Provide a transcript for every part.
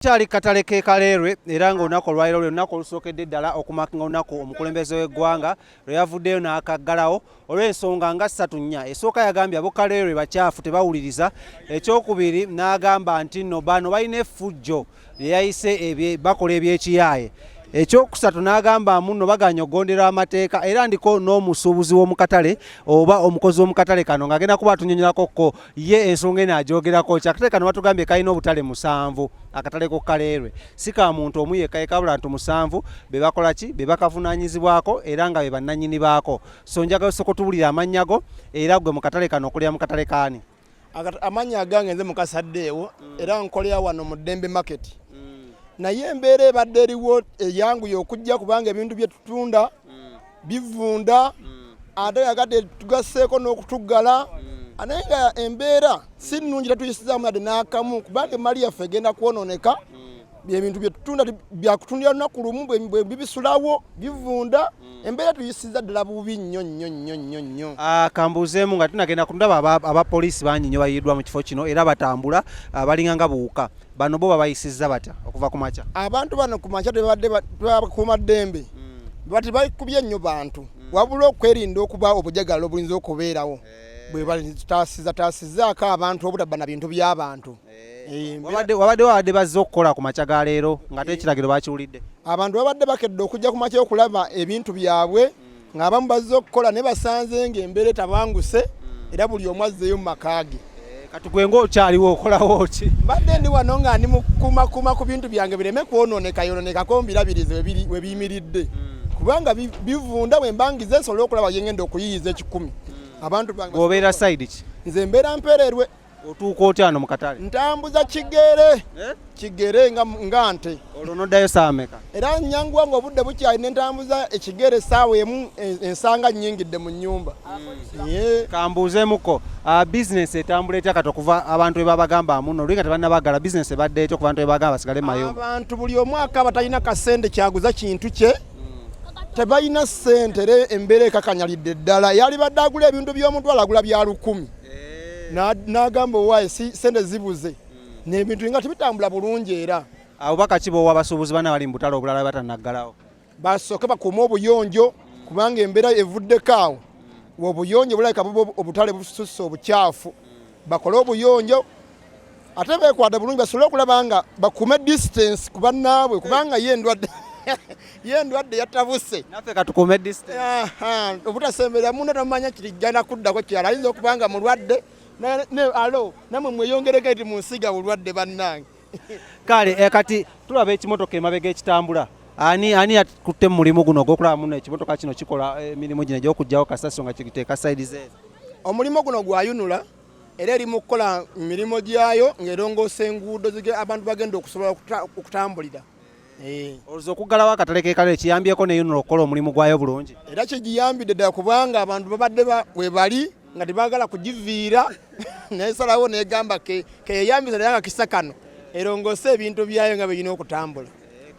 Kyali katale ke Kaleerwe era ng'olunaku olwaliro lwe lunaku olusookedde ddala okumakinga olunaku omukulembeze w'eggwanga lwe yavuddeyo n'akaggalawo olw'ensonga nga ssatu nnya. Esooka yagambye abo Kaleerwe bakyafu tebawuliriza, ekyokubiri n'agamba nti no bano balina effujjo lye yayise bakola eby'ekiyaaye ekyokusatu n'agamba muno baganya okugondera amateeka era ndiko n'omusuubuzi w'omukatale oba omukozi w'omukatale kano ng'agenda kuba atunyonyolako kko ye ensonga eno agyogerako kyakate kano batugambye kalina obutale musanvu akatale ku kaleerwe si ka muntu omu yekka yekabula ntu musanvu be bakola ki be bakavunaanyizibwako era nga be bannannyini baako so njagala osooka otubulira amannya go era gwe mu katale kano okulira mu katale kaani amannya agange nze mukasaddeewo mm. era nkolera wano mu ddembe market mm. naye embeera ebadde eriwo eyanguye okujja kubanga ebintu bye tutunda mm. bivunda mm. ate yagadde tugasseeko n'okutuggala mm. naye nga embeera si nnungi tatuyisizaamu yadde n'akamu kubanga emmali yaffe egenda kwonooneka mm. byebintu byetutunda byakutundira lunaku lumu bibisulawo bivunda embeera tuyisiza ddala bubi nnyo nnyo nnyo nnyo nnyo ah, kambuuzeemu nga tunagenda kundaba abapoliisi bangi nnyo bayiddwa mu kifo kino era batambula ah, balinga nga buwuka Bano bo babayisizza batya okuva ku makya? Abantu bano ku makya tebabadde bakuuma ddembe hmm. bati bakubye nnyo bantu hmm. wabula okwerinda okuba obujagalo obuyinza okubeerawo eh. bwe batasiza tasizaako abantu obutaba na bintu by'abantu eh. Eh, wabadde wabadde bazze okukola ku makya ga leero ng'ate ekiragiro bakiwulidde abantu babadde bakedde okujja ku makya okulaba ebintu byabwe ng'abamu bazze okukola ne basanze ng'embeera etabanguse hmm. era buli omu azzeeyo mu maka ge eh, kati gwe ng'okyaliwo okolawo ki mbadde ndi wano nga ndi mukumakuma ku bintu byange bireme kwonooneka yonoonekako mbirabirize we biyimiridde hmm. kubanga bivunda bwe mbangiza esobola okulaba yengenda okuyiyiza ekikumi hmm. abantu bange obeera sayidi ki nze mbeera mpereerwe otuuka otya wano mu katale ntambuza kigere eh? kigere nga, nga nte olwo noddayo saameka era nyanguwa nga obudde bukyali nentambuza ekigere esaawa emu ensanga nyingidde mu nyumba mm. yeah. kambuuzemuko uh, bizinesi etambula etya kati okuva abantu webabagamba amuno olinga tebannabagala bizinesi ebadde etya okubantu webagamba basigale mayo abantu buli omwaka abatalina kasente kyaguza kintu kye tebalina sente era embeera ekakanyalidde ddala yalibadde agula ebintu by'omuntu alagula bya lukumi n'agamba owaaye sente zibuze hmm. nebintu nga tebitambula bulungi era abo bakaki bowa abasuubuzi bana bali mu butale obulala batanaggalawo basooke bakuume obuyonjo kubanga embeera evuddeko awo obuyonjo bulabika obutale bususse obukyafu bakole obuyonjo ate bekwata bulungi basobole okulaba nga bakume distance ku bannaabwe kubanga ye endwadde ye endwadde yatabuse naffe katukume distance obutasemberera munda tamumanya kirigana kuddako kirala ayinza okuba nga mulwadde alo namwe mweyongereko eti munsiga bulwadde bannange kale eh, kati tulaba ekimotoka emabega ekitambula ani ani atutte mu mulimu guno ogwokulaba muno ekimotoka kino kikola eh, emirimu gino egyokugjawo kasasiro nga kiteeka saidize omulimu guno gwayunula era eri mu kukola mirimu gyayo ng'erongoosa enguudo abantu bagenda okusobola okutambulira eh. olwoza okuggalawo akatale kekalo ekiyambyeko neyonula okukola omulimu gwayo bulungi era kyegiyambidde ddala kubanga abantu babadde webali nga tebagala kugiviira nesalawo negamba keyeyambisa naye nga kisa kano erongoose ebintu byayo nga birina okutambula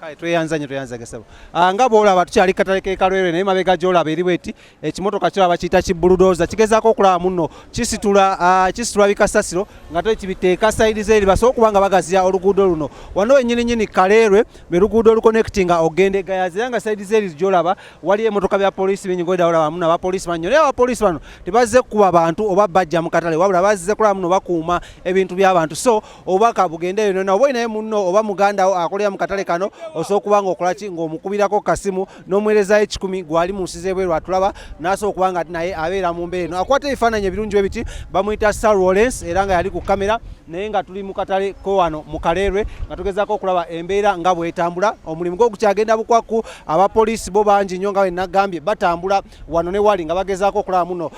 kale tweyanza nyo tweyanza gesebo ah, nga bwolaba tukyali katale kekalwere naye mabega gyolaba eri bweti ekimotoka kyo abakiyita kibuludoza kigezaako okulaba muno kisitula ah, kisitula bikasasiro nga to kibiteeka sayidi zeeri basobola okuba nga bagaziya oluguudo luno wano wenyininyini kaleerwe lwe luguudo olukonectinga ogenda egayazi era nga sayidi zeeri gyolaba waliyo emotoka bya polisi bingi ngoyda olaba muno abapolisi banyo naye abapolisi bano tebazze kukuba bantu oba bajja mu katale wabula bazze kulaba muno bakuuma ebintu by'abantu so obubaka bugende eyo nona oba olinaye munno oba mugandawo akolera mu katale kano osobola okuba nga okola ki ng'omukubirako kasimu n'omuweerezayo ekikumi gwali mu nsi z'ebweru atulaba n'asobola okuba nga naye abeera mu mbeera eno akwata ebifaananyi ebirungi bwe biti bamuyita sir lawrence era nga yali ku kamera naye nga tuli mu katale ke wano mu kaleerwe nga tugezaako okulaba embeera nga bwetambula omulimu gwo gukyagenda bukwakku abapoliisi bo bangi nnyo nga bwe nagambye batambula wano ne wali nga bagezaako okulaba muno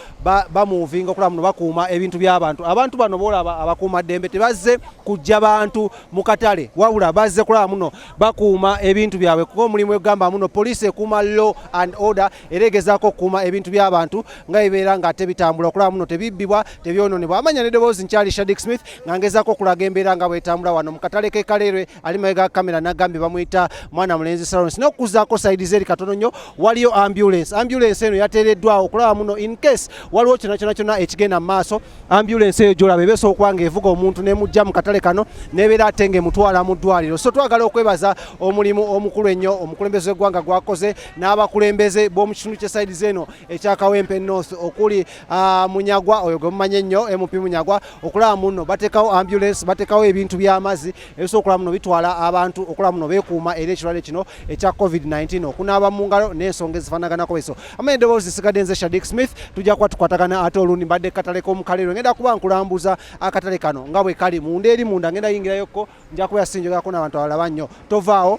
bamuvinga okulaba muno bakuuma ebintu by'abantu abantu bano boolaba abakuuma ddembe tebazze kujja bantu mu katale wabula bazze kulaba muno bakuuma ebintu byabwe kuba omulimu egamba muno poliisi ekuuma law and order era egezaako okukuuma ebintu by'abantu nga ebeera nga ate bitambula okulaba muno tebibbibwa tebyononebwa amanya nedoboozi nkyali shadik smith nga ngezaako okulaga embeera nga bwetambula wano mu katale k'ekaleerwe ali mabega kamera nagambye bamuyita mwana mulenzi salons nokuzaako saidi zeri katono nnyo waliyo ambulance ambulance eno yateereddwawo okulaba muno in case waliwo kyona kyona kyona ekigenda mu maaso ambulance eyo gyolaba ebeesa okuba nga evuga omuntu nemujja mu katale kano nebeera ate nga emutwala mu ddwaliro so twagala okwebaza omulimu omukulu ennyo omukulembeze w'eggwanga gwakoze n'abakulembeze b'omu kitundu kye saidi zeno ekyakawempe north okuli ah, munyagwa oyo gwe mumanyi ennyo mp munyagwa okulaba muno batekawo ambulance batekawo ebintu by'amazzi ebisobola okulaba muno bitwala abantu okulaba muno beekuuma era ekirwadde kino ekya covid-19 okunaaba mu ngalo n'ensonga ezifanaganako eso ama edoboozi zisigadde nze shadik smith tujja kuba tukwatagana ate olundi mbadde katale k'omukalero ngenda kuba nkulambuza akatale kano nga bwe kali munda eri munda ngenda yingirayokko nja kuba yasinjogerako n'abantu abalaba nnyo tovaawo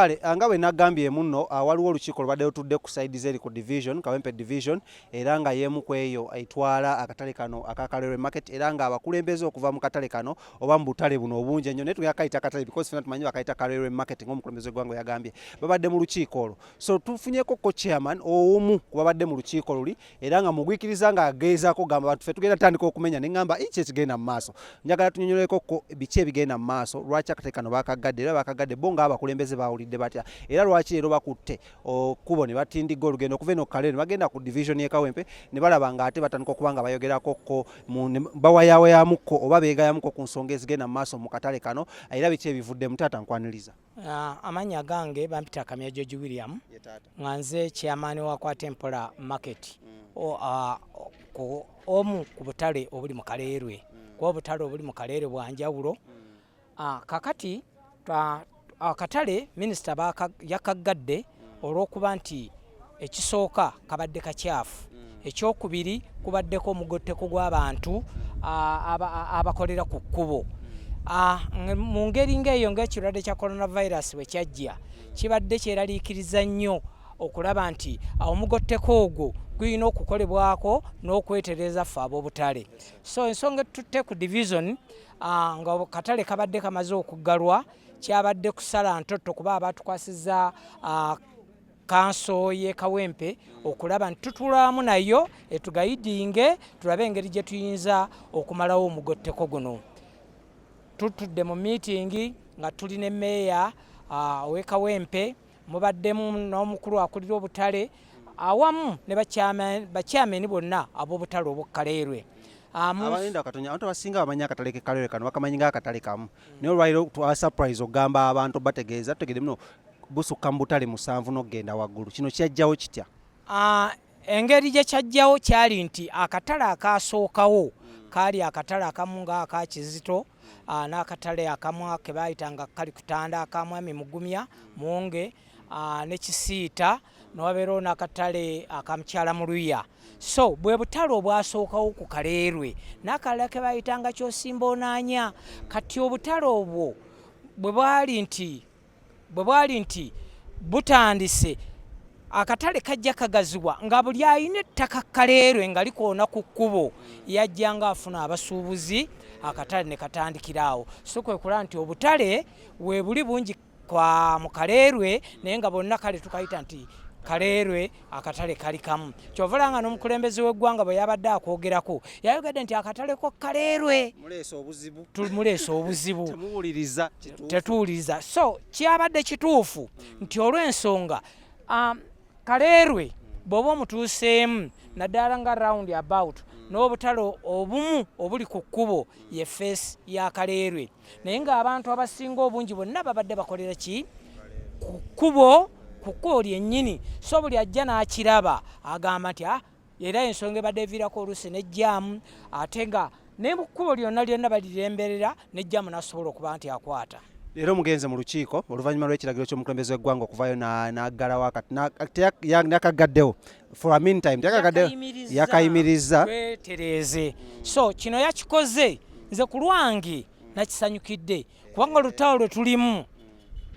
kale ah, nga bwe nagambye muno ah, waliwo olukiiko lubadde lutudde ku saidi zeri ku division kawempe division era nga yeemu ku eyo etwala akatale kano aka kalere market era nga abakulembeze okuva mu katale kano oba mu butale buno obungi ennyo naye tugenda kayita katale because fena tumanyi bakayita ka railway market ng'omukulembeze w'eggwanga yagambye babadde mu lukiiko olwo so tufunyeko ko chairman omu ku babadde mu lukiiko luli era nga mugwikiriza nga ageezaako gamba bantu fe tugenda tutandika okumenya ne ngamba iki ekigenda mu maaso njagala tunyonyoleko ko biki ebigenda mu maaso lwaki akatale kano bakaggadde era bakaggadde bo ng'abakulembeze baawulidde batya era lwaki leero bakutte okubo ne batindigga olugendo okuva eno kale ne bagenda ku division ye kawempe ne balaba nga ate batandika okuba nga bayogerako ko bawayawayamuko oba beegayamuko ku nsonga ezigenda mu maaso mu katale kano era biki ebivudde mu taata nkwaniriza ah, amannya gange bampita kamya george william nga nze chairman wa kwatempola market mm. ah, omu ku butale obuli mu kaleerwe mm. kuba obutale obuli mu kaleere bwanjawulo mm. Ah, kakati ah, akatale minisita yakaggadde olw'okuba nti ekisooka kabadde kakyafu mm. ekyokubiri kubaddeko omugotteko gw'abantu abakolera ku kkubo mm. mu ngeri ng'eyo ng'ekirwadde kya coronavirus bwe kyajja kibadde kyeraliikiriza nnyo okulaba nti omugotteko ogwo gulina okukolebwako n'okwetereza ffe ab'obutale so ensonga etutte ku division Ah, nga katale kabadde kamaze okuggalwa kyabadde kusala ntotto kuba abatukwasiza ah, kanso ye kawempe okulaba nti tutulamu nayo etugayidinge tulabe engeri gye tuyinza okumalawo omugotteko guno tutudde mu miitingi nga tuli ne meeya ah, owekawempe uh, Mubaddemu n'omukulu akulira obutale awamu ne bakyameni bonna ab'obutale obw'okkaleerwe abayenda ah, katonya abantu abasinga bamanyi akatale kekalere kano bakamanyi nga akatale kamu naye olwaliro twa surprise ogamba abantu bategeeza tutegede muno busukka mu butale musanvu n'okugenda waggulu kino kyajjawo kitya ah, engeri gye kyajjawo kyali nti akatale akaasookawo kaali akatale akamu nga aka kizito ah, n'akatale akamwa ke baayitanga kali kutanda akamwami mugumya munge ah, ne kisiita newabeerawo n'akatale akamukyala mu luya so bwe butale obwasookawo ku kaleerwe n'akalala ke baayitanga kyosimba onaanya kati obutale obwo bwe bwali nti bwe bwali nti butandise akatale kajja kagaziwa nga buli alina ettaka kaleerwe nga likoona ku kkubo yajja nga afuna abasuubuzi akatale ne katandikira awo so kwe kulaba nti obutale we buli bungi kwa mu kaleerwe naye nga bonna kale tukayita nti kaleerwe akatale kali kamu kyovola nga n'omukulembeze w'eggwanga bwe yabadde akwogerako yayogedde nti akatale ko kaleerwe tumuleesa obuzibu tetuwuliriza so kyabadde kituufu nti olw'ensonga um, kaleerwe bw'oba omutuuseemu naddala nga round about n'obutale obumu obuli ku kkubo ye feesi ya kaleerwe naye ng'abantu abasinga obungi bonna babadde bakolera ki ku kkubo ku kkubo lyennyini so buli ajja n'akiraba agamba nti ah, era ensonga ebadde eviirako oluusi nejjaamu ate nga ne mu kkubo lyonna lyonna baliremberera nejjaamu n'asobola okuba nti akwata leero mugenze mu lukiiko oluvannyuma lw'ekiragiro ky'omukulembeze w'eggwanga okuvaayo n'aggalawo yakaggaddewo for a meantime tekakade yakayimirizza twetereeze so kino yakikoze nze ku lwange nakisanyukidde kubanga olutalo lwe tulimu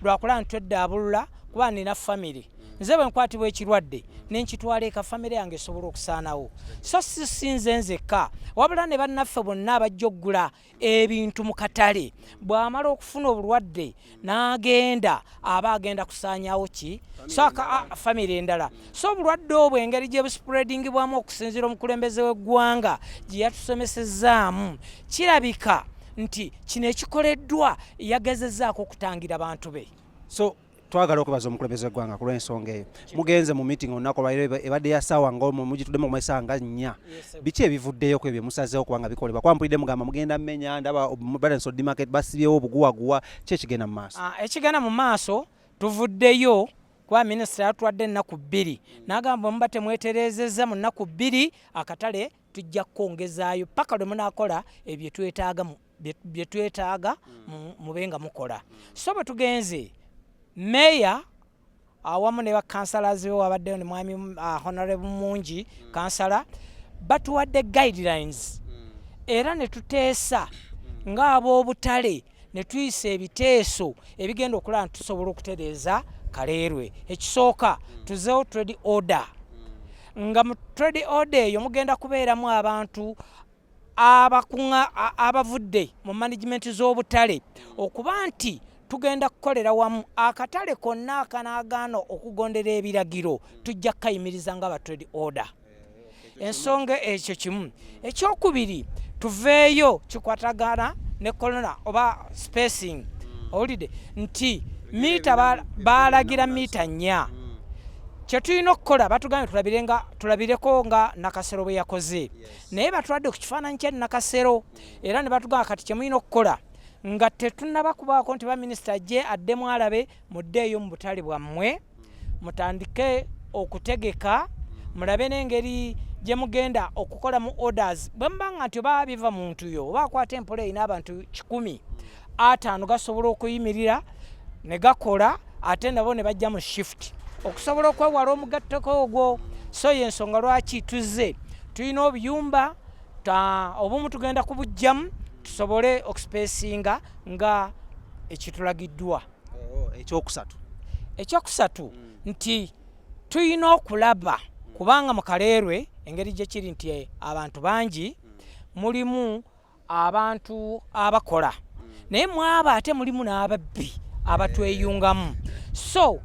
lwakulaba nti tweddaabulula kuba nina famiry nze bwe nkwatibwa ekirwadde nenkitwala eka famiry yange esobola okusaanawo so sisinze nzekka wabula ne bannaffe bonna abajja okugula ebintu mu katale bw'amala okufuna obulwadde n'agenda aba agenda kusaanyawo ki soka famire endala so obulwadde obwo engeri gye busipuredingibwamu okusinziira omukulembeze w'eggwanga gye yatusomesezaamu kirabika nti kino ekikoleddwa yagezezaako okutangira bantu be so twagala okwebaza omukulembeze w'eggwanga ku lw'ensonga eyo mugenze mu meeting olunaku olwaliro ebadde ya saawa nga omu mugituddemu okumala esaawa nga nnya biki ebivuddeyo ku ebyo musazeewo kubanga bikolebwa kuba mpulidde mugamba mugenda menya ndaba balance odi market basibyewo obuguwaguwa ki ekigenda mu maaso ah, ekigenda mu maaso tuvuddeyo kuba minisita yatwadde ennaku bbiri n'agamba muba temwetereezezza mu nnaku bbiri akatale tujja kukwongezaayo paka lwe munakola ebyo twetaaga bye twetaaga mm. mube nga mukola so bwe tugenze meeya awamu ne bakansala zibe wabaddeyo ne mwami uh, honorable mungi mm. kansala batuwadde guidelines mm. era ne tuteesa ng'ab'obutale ne tuyisa ebiteeso ebigenda okulaba nti tusobola okutereeza kaleerwe ekisooka tuzeewo trade order nga mu trade order eyo mugenda kubeeramu abantu abakuŋa abavudde mu management z'obutale okuba nti tugenda kukolera wamu akatale konna akanaagaana okugondera ebiragiro tujja kukayimiriza nga ba trade order ensonga ekyo kimu ekyokubiri tuveeyo kikwatagana ne kolona oba spacing mm. owulidde nti miita baalagira miita nnya mm. kyetulina okukola batugambye tulabirenga tulabireko nga nakasero bwe yakoze naye batwadde ku kifaananyi kya nakasero mm. era ne batugamba kati kyemulina okukola nga tetunaba kubaako nti baminisita ajje addemu alabe muddeeyo mu butale bwammwe mutandike okutegeka mulabe n'engeri gye mugenda okukolamu orders bwe muba nga nti oba biva muntu yo oba akwata empola erina abantu kikumi ataano gasobola okuyimirira ne gakola ate nabo ne bajja mu shift okusobola okwewala omugatteko ogwo so ye ensonga lwaki tuzze tulina obuyumba obumu tugenda kubujjamu tusobole okusipesinga nga ekitulagiddwa oh, ekyokusatu ekyokusatu mm. nti tulina okulaba mm. kubanga mu kaleerwe engeri gye kiri nti eh, abantu bangi mm. mulimu abantu abakola naye mwaba ate mulimu n'ababbi abatweyungamu so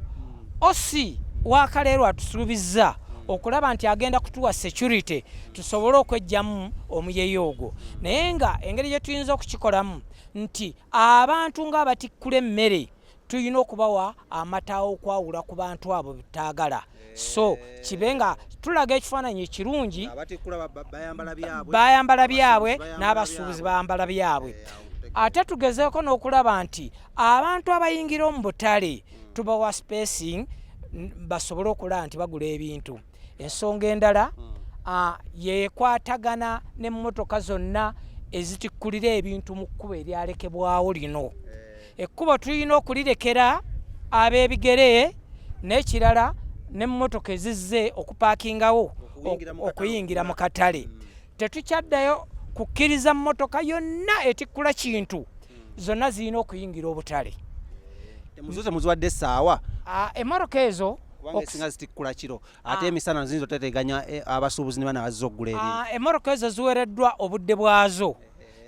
osi wakaleerwa atusuubizza okulaba nti agenda kutuwa security tusobole okwejjamu omuyeyo ogwo naye nga engeri gye tuyinza okukikolamu nti Abantu ng'abatikkula emmere tulina okubawa amata okwawula ku bantu abo betaagala so eh. kibe nga tulaga ekifaananyi ekirungi bayambala byabwe n'abasuubuzi bayambala byabwe eh, ate tugezeeko n'okulaba nti abantu abayingira omu butale hmm. tubawa spacing basobole okulaba nti bagula ebintu ensonga endala hmm. ah, yekwatagana nemotoka zonna ezitikkulira ebintu mu kkubo eryalekebwawo lino eh. ekkubo tulina okulirekera ab'ebigere n'ekirala nemotoka ezizze okupaakingawo okuyingira mu katale hmm. Tetukyaddayo kukkiriza mmotoka yonna etikkula kintu zonna zirina okuyingira obutale. Emuzo temuziwadde essaawa? Ah, Emmotoka ezo kubanga esinga zitikkula kiro ah. ate emisana nzinza oteteganya eh, abasuubuzi ne bana bazza okugula ebintu ah, emmoroka ezo ziwereddwa obudde bwazo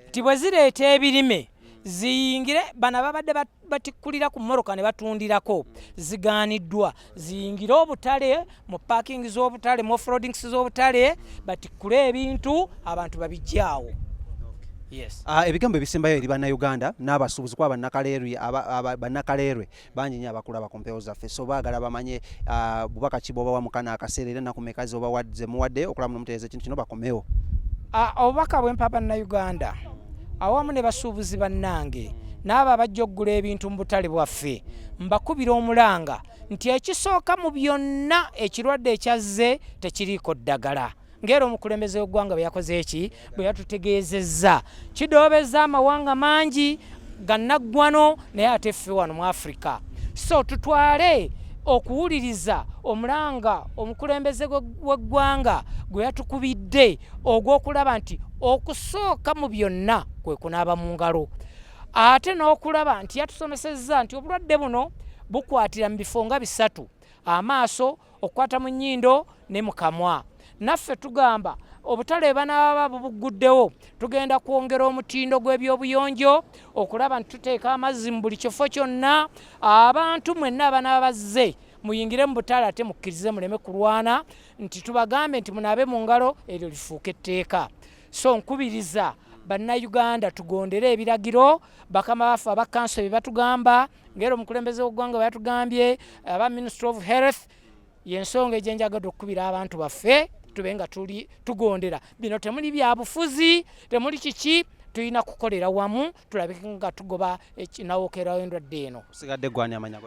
nti bwe zireeta ebirime ziyingire bana babadde batikkulira ku moroka ne batundirako zigaaniddwa ziyingire obutale mu parking z'obutale mu offroadings z'obutale batikkule ebintu abantu babijjaawo Yes. Uh, ebigambo ebisembayo eri bannayuganda n'abasuubuzi kuba bannakaleerwe bannakaleerwe bangi nyo abakulaba ku mpewo zaffe so baagala bamanye uh, bubaka ki bwobawa mukana akaseera era nakumekazi obawadze muwadde okulaba nomutereeza ekintu kino bakomewo uh, obubaka bwempa bannayuganda awamu ne basuubuzi bannange n'abo abajja okugula ebintu mu butale bwaffe mbakubira omulanga nti ekisooka mu byonna ekirwadde ekyazze tekiriiko ddagala ng'era omukulembeze w'eggwanga bwe yakoze eki bwe yatutegeezezza kidoobezza amawanga mangi gannaggwano naye ate ffe wano mu africa so tutwale okuwuliriza omulanga omukulembeze w'eggwanga gwe yatukubidde ogw'okulaba nti okusooka mu byonna kwe kunaaba mu ngalo ate n'okulaba nti yatusomesezza nti obulwadde buno bukwatira mu bifo nga bisatu amaaso okukwata mu nnyindo ne mu kamwa naffe tugamba obutale banaaba bubugguddewo tugenda kwongera omutindo gw'ebyobuyonjo okulaba nti tuteeka amazzi mu buli kifo kyonna abantu mwenna abanaaba bazze muyingire mu butale ate mukkirize muleme kulwana nti tubagambe nti munaabe mu ngalo eryo lifuuka etteeka so nkubiriza bannayuganda tugondere ebiragiro bakama baffe abakkanso bye batugamba ngero omukulembeze w'eggwanga bwe yatugambye aba ministry of health yensonga egyenjagade okukubira abantu baffe tube nga tuli tugondera bino temuli byabufuzi temuli kiki tulina kukolera wamu tulabike nga tugoba nawokerawo endwadde eno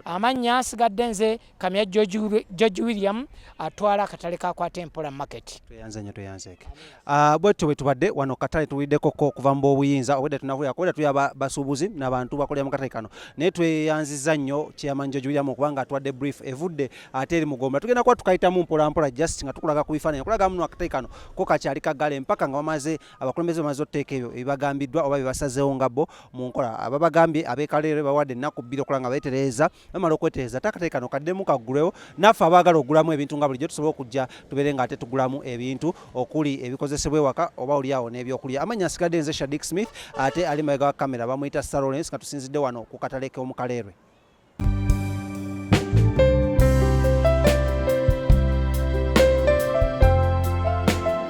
amannya asigadde nze Kamya George, George William atwala akatale ka kwata empola market. Tweyanze nyo tweyanze ke. Ah uh, bwetu bwetubadde wano katale tuwideko ko kuva mbo obuyinza obwedda tunavuya kwedda tuya basubuzi ba nabantu bakolera mu katale kano. Naye tweyanziza nnyo chairman George William okubanga atwadde brief evudde ate eri mugomba. Tugenda kwa tukayita mu mpola mpola just nga tukulaga ku bifananyi. Kulaga muno akatale kano ko kakyali kagale mpaka nga bamaze abakulembeze bamaze oteeka ebyo ebibagambiddwa oba bibasazeewo ngabo mu nkola. Ababagambye abekalere bawadde ennaku bbiri okulanga betereeza bamala okwetereza takatale kano kaddemu kaggulwewo naffe abaagala okugulamu ebintu nga bulijjo tusobola okujja tubeere nga ate tugulamu ebintu okuli ebikozesebwa ewaka oba olyawo n'ebyokulya amannya asigadde nze shadik smith ate ali mabega wa kamera bamuyita sarolens nga tusinzidde wano ku katale k'omukaleerwe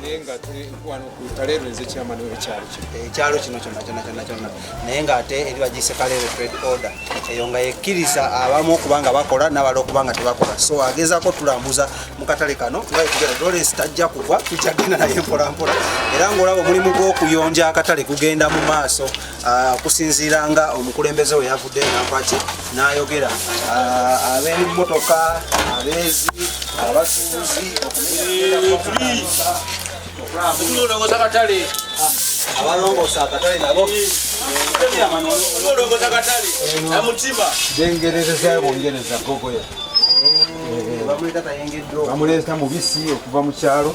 naye nga tuli wano ku taleero nze kyamani wekyalo kino ekyalo kino kyonna kyonna kyonna kyonna naye ng'ate eri bagiyise kaleero trade order eyo nga yekkiriza abamu okuba nga bakola nabala okuba nga tebakola so agezaako tulambuza mu katale kano ngaetugera dolesi tajja kugwa tukyagenda naye mpolampola era ng'olaba omulimu gw'okuyonja akatale kugenda mu maaso Ah, okusinziira nga omukulembeze we yavudde nampaki n'ayogera ah, ab'emmotoka abeezi abasuubuzi abalongoosa akatale nabo gengerereza bongereza gogoya eh, eh, bamuleeta mubisi okuva mu kyalo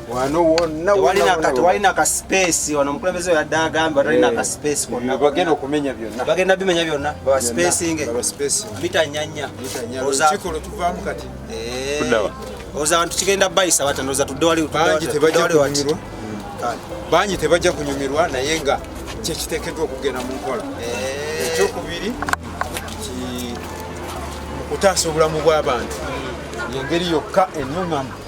wano wonna walina kati walina ka space wano omukulembeze yadde agamba walina eh, ka space konna bagenda okumenya byonna bagenda bimenya byonna baba spacinge mita nyanya kikulu tuvaamu kati eh, oza abantu kigenda bayisa bata noza tudde wali bangi tebajja kunyumirwa bangi tebajja kunyumirwa naye nga kyekiteekeddwa okugenda mu nkola eh. ekyokubiri nti mu kutaasa obulamu bw'abantu yengeri yokka enuŋamu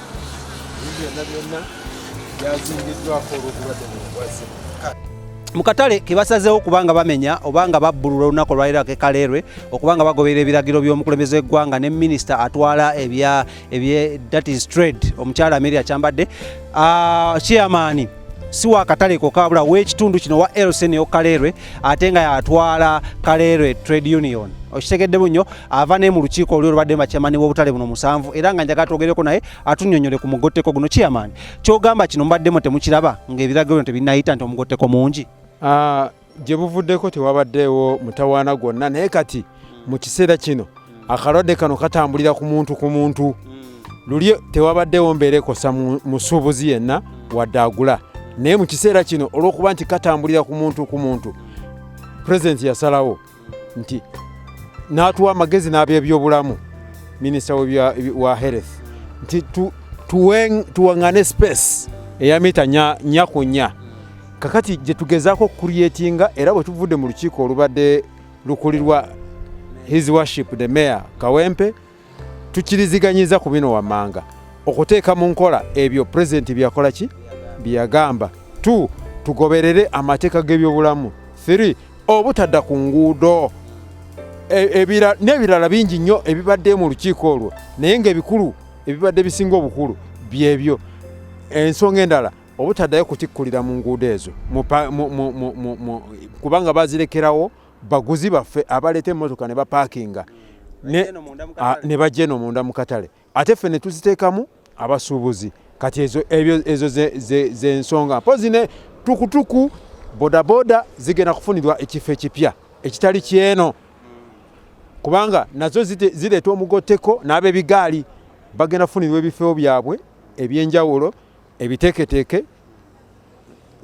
mu katale ke basazeewo kubanga bamenya obanga babbulula olunaku olwaliro ke kaleerwe okubanga bagoberera ebiragiro by'omukulembeze w'eggwanga ne minisita atwala ebya ebye that is trade omukyala ameria kyambadde ah, chairman si wa katale koka wabula w'ekitundu kino wa lsn yo kaleerwe ate nga yatwala kaleerwe trade union okitegeddemu nnyo ava ne mu lukiiko oluli olubadde makyamani w'obutale buno musanvu era nga njagala twogereko naye atunyonyole ku mugotteko guno kiyamaani kyogamba kino mubaddemu temukiraba ng'ebiragiro bino tebinayita nti omugotteko mungi ah, gye buvuddeko tewabaddeewo mutawaana gwonna naye kati mu kiseera kino akalwadde kano katambulira ku muntu ku muntu luli tewabaddewo mbeera ekosa musuubuzi yenna wadde agula naye mu kiseera kino olw'okuba nti katambulira ku muntu ku muntu pulezidenti yasalawo nti n'atuwa amagezi n'abebyobulamu minisita wa health nti tuwaŋŋane space eya mita nya ku nya kakati gye tugezaako okukuliyetinga era bwe tuvudde mu lukiiko olubadde lukulirwa his worship the mayor kawempe tukiriziganyiza ku bino wammanga okuteeka mu nkola ebyo pulezidenti byakola ki byeyagamba t tugoberere amateeka g'ebyobulamu 3 obutadda ku nguudo e, n'ebirala bingi nnyo ebibadde mu lukiiko olwo naye ngaebikulu ebibadde bisinga obukulu byebyo ensonga endala obutaddayo kutikkulira mu nguudo ezo kubanga bazirekerawo baguzi baffe abaleeta emmotoka ne bapaakinga ne bajja eno munda mu katale ate ffe ne tuziteekamu abasuubuzi kati ezo ezo zensonga mpozi ne tukutuku bodaboda zigenda kufunirwa ekifo ekipya ekitali kyeno kubanga nazo zireeta omugotteko n'abebigaali bagenda kufunirwa ebifo byabwe ebyenjawulo ebiteeketeeke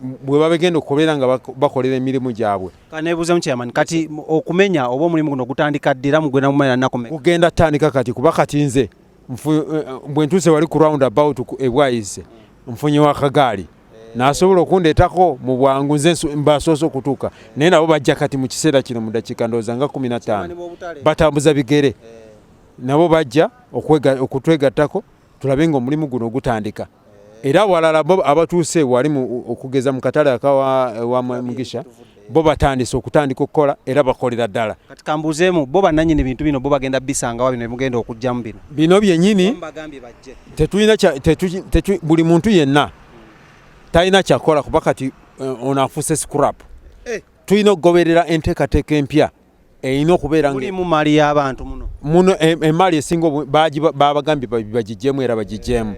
bwe babegenda okubeera nga bakolera emirimu gyabwe kanebuuzemu chairman kati okumenya oba omulimu guno gutandika ddi era mugenda kumanya nakumenya kugenda tandika kati kuba kati nze eh, eh, bwe ntuuse wali ku round about ebwayize nfunye wakagaali nasobola okundeetako mu bwangu nze mbasoose okutuuka naye nabo bajja kati mu kiseera kino mu dakiika ndowooza nga kumi na ttaano batambuza bigere eh. nabo bajja okutwegattako tulabe nga omulimu guno gutandika era awalala bo abatuuse wali okugeza mu katale akawa wa mugisha bo batandise okutandika okukola era bakolera ddala kati kambuuzeemu bo bannanyini bintu bino bo bagenda bisangawa bino bimugenda okugyamu bino bino byenyini tetulina buli muntu yenna talina kyakola kuba kati eh, ono afuuse scrap eh. tulina okugoberera enteekateeka empya erina okubeera mulimu mali y'abantu muno muno e, emaali esinga babagambye bagijjemu era bagijjemu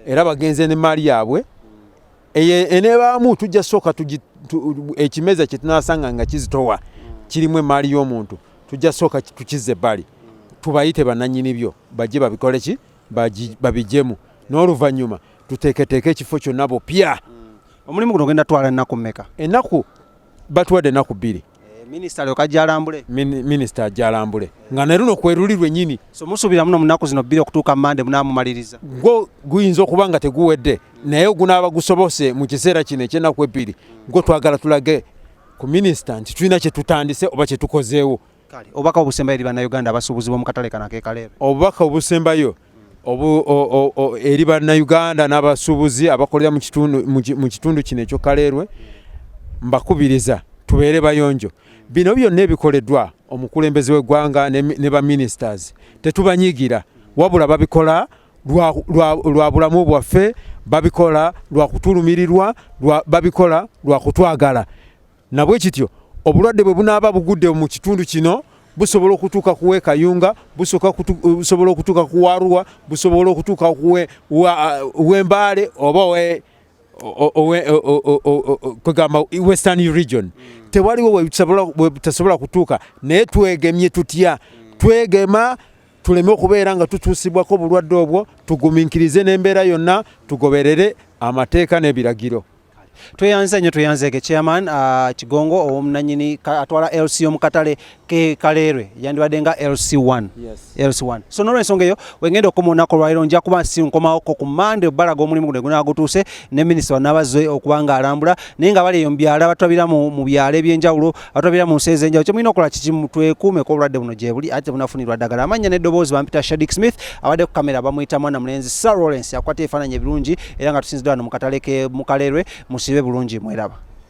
era bagenze ne maali yaabwe enebaamu tujja sooka ekimeza kyetunasanga nga kizitowa kirimu emaali y'omuntu tujja sooka tukizze ebbali tubayite bananyini byo bajje babikole ki babijjemu n'oluvannyuma tuteeketeeke ekifo kyonna bupya mm. omulimu guno ogenda twala ennaku meka ennaku batuwadde ennaku bbiri Eh, minisita lyoka jalambule minisita ajalambule nga ne luno kweruli lwenyini so musuubira muno munaku zino bbiri okutuuka mande munamumaliriza gwo guyinza okuba nga teguwedde naye ogunaaba gusobose mu kiseera kino ekyenaku ebbiri gwo twagala tulage ku minisita nti tulina kyetutandise oba kyetukozeewo obubaka obusembayo eri bannayuganda abasuubuzibwa mu katale kanakekaleero obubaka obusembayo eri bannayuganda n'abasuubuzi abakolera mu kitundu kino ekyo kaleerwe mbakubiriza tubeere bayonjo bino byonna ebikoleddwa omukulembeze w'eggwanga ne baministers tetubanyigira wabula babikola lwa bulamu bwaffe babikola lwa kutulumirirwa babikola lwa kutwagala Nabwekityo obulwadde bwe bunaaba bugudde mu kitundu kino busobola okutuuka kuwa ekayunga busobola eh, okutuuka kuwaruwa busobola okutuuka wembaale eh, oba kwegamba western region mm. tewaliwo webutasobola kutuuka naye twegemye tutya mm. twegema tuleme okubeera nga tutuusibwako obulwadde obwo tuguminkirize n'embeera yonna tugoberere amateeka n'ebiragiro Tweyanze nyo tweyanze ke chairman uh, Kigongo omunanyini atwala LC yo mukatale ke Kalerwe yandibade nga LC1 yes. LC1 so nolwe nsonga eyo wengenda okomona ko lwairo nja kuba si nkoma oko ku Monday balaga omulimu gune guna gutuse ne minister wa nabazo okubanga alambula naye nga bali yo mbyala batwabira mu, mu byale byenjawulo atwabira mu nsi ezenjawulo kyemulina okola kikimu twekuumeko obulwadde buno gyebuli ate bunafunirwa ddagala amannya n'eddoboozi bampita shadik smith abadde ku kamera bamuyita mwana mulenzi sir lawrence akwata ebifaananyi ebirungi era nga tusinzidwa wano mu katale ke mukalerwe musibe bulungi mweraba